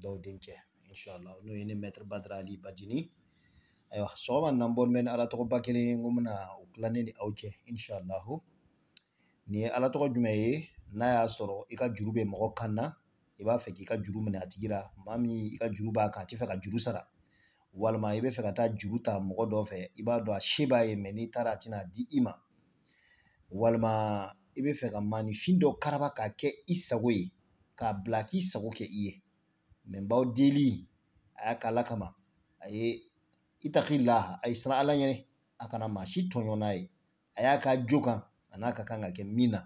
dɔw denkɛ inshallah n'o ye ne mɛtiri badara ali bajini ayiwa sɔgɔma nan bɔ mɛ ni ala tɔgɔba kelen n ko bɛna o tila ne ni aw cɛ inshallahu nin ye ala tɔgɔ jumɛn ye n'a y'a sɔrɔ i ka juru bɛ mɔgɔ kan na i b'a fɛ k'i ka juru minɛ a tigi la maa min i ka juru b'a kan a tɛ fɛ ka juru sara walima i bɛ fɛ ka taa juru ta mɔgɔ dɔ fɛ i b'a dɔn a se b'a ye mɛ n'i taara a tɛna di i ma walima i bɛ fɛ ka maanifin dɔ karaba k'a kɛ i sago ye k'a bila k'i sago kɛ i ye mɛ n b'aw deli a y'a k'ala kama a ye i taki laha a ye siran ala ɲɛ a kana maa si tɔɲɔ n'a ye a y'a k'a jo kan an'a ka kan ka kɛ min na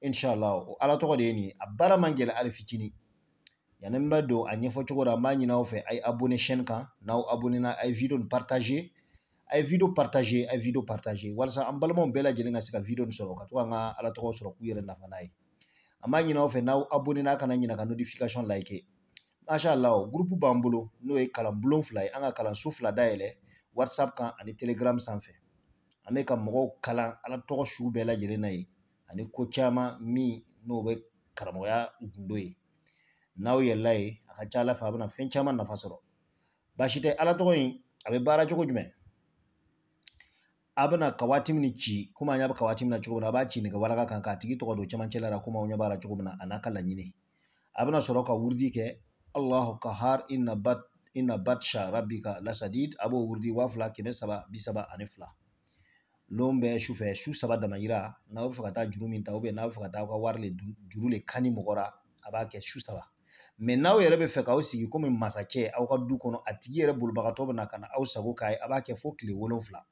inshallah o ala tɔgɔ de ye nin ye a baara man gɛlɛn hali fitinin yanni n bɛ don a ɲɛfɔ cogo la n b'a ɲini aw fɛ a ye abonné chaîne kan n'aw abonné na a ye video nin partager a ye video partager a ye video partager walasa an balimaw bɛɛ lajɛlen ka se ka video nin sɔrɔ ka to k'an ka ala tɔgɔ sɔrɔ k'u yɛrɛ nafa n'a ye an b'a ɲini aw fɛ n'aw abonné na a kana ɲina ka notification like masha allah groupe b'an bolo n'o ye kalan bulon fila ye an ka kalanso fila dayɛlɛ whatsapp kan ani telegram sanfɛ an bɛ ka mɔgɔw kalan ala tɔgɔ sugu bɛɛ lajɛlen na ye ani ko caman min n'o bɛ karamɔgɔya gundo ye n'aw yɛlɛla yen a ka ca ala fɛ a bɛna fɛn caman nafa sɔrɔ baasi tɛ ala tɔgɔ in a bɛ baara cogo jumɛn a bɛna kawatimi nin ci komi aw ɲɛ bɛ kawatimi na cogo min na a b'a ci nɛgɛ walaka kan k'a tigi tɔgɔ don cɛmancɛ la komi aw ɲɛ b'a la cogo min na an'a ka laɲini a bɛna sɔrɔ ka wurudi kɛ alahu kahar inna bat inna batsha rabbika lasadid a b'o wurudi waa fila kɛmɛ saba bi saba ani fila lon bɛɛ su fɛ su saba dama yira n'a bɛ fɛ ka taa juru min ta n'a bɛ fɛ ka taa aw ka wari le juru le kani mɔgɔ la a b'a kɛ su saba mɛ n'aw yɛrɛ bɛ fɛ k'aw sigi komi masakɛ aw ka du kɔnɔ a tigi yɛrɛ bolibagatɔ bɛ na ka na aw sago k'a ye a b'a kɛ fo tile wolonfila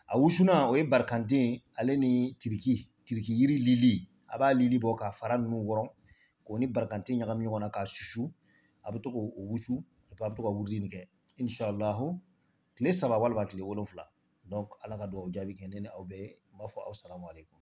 a wusulan o ye barikante ale ni tiriki tiriki yiri lili a b'a lili bɔ k'a fara ninnu wɔrɔ k'o ni barikante ɲagami ɲɔgɔn na k'a susu a bɛ to k'o wusu a bɛ to ka wurudi nin kɛ inshallahu tile saba walima tile wolonwula donc ala ka dugawu jaabi kɛ ne ni aw bɛɛ ye n b'a fɔ aw asalamu alekum